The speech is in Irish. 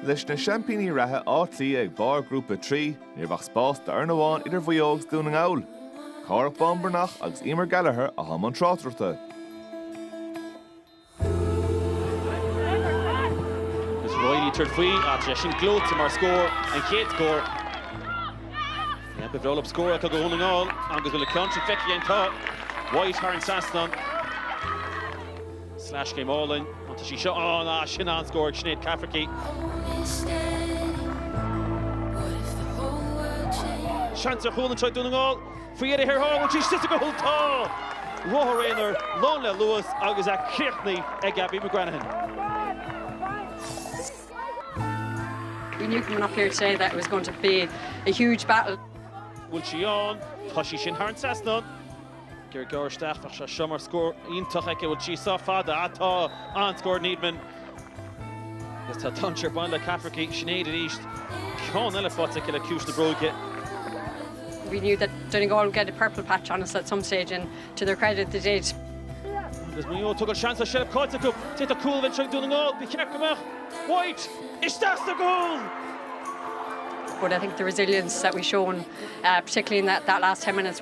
Leis na seaimpíní reatha Áth Cliath ag barr Ghrúpa 3, ní raibh ach spás d'fhoireann amháin idir Mhaigh Eo agus Dún na nGall, Cárthach Bán Breathnach agus Emer Gallagher atá i mbun tráchtaireachta. Is Reilly ag tabhairt faoi agus leis an gclúite mar scór, an chéad scór. Neamh go bhreolab scór atá do Dhún na nGall agus bhfuil an ceann sin feicthe again tá White thar an trasnán. Sleaschéim álainn, an t-sí seo ann, ah, sin an scór ag Sinéad Cafferky. Seans ar chúl anseo ag Dún na nGall, faoi dheireadh thiar thall, an t-sí síos go húll, tá! Ruathar aonair lán le luas agus é críochnaithe ag Abbie McGranaghan. We knew coming up here today that it was going to be a huge battle. Bhfuil sí ann? Tá sí sin thar an trasnán. Gearr gearr isteach, bheadh sé seo mar scór iontach aici. Bhfuil sí sách fada? Tá, an scór Needham agus tá Dunsh ar bun le Cafferky, Sinéad arís, ceann eile faighte aici le ciumhais na bróige. We knew that Donegal would get a purple patch on us at some stage and to their credit they did. Agus Maigh Eo ag tógáil seans le seilbh caite acu, d'fhéadfadh cúl a bheith anseo ag Dún na nGall, ba cheart go mbeadh White isteach sa gcúl! But I think the resilience that we've shown particularly in that last ten minutes.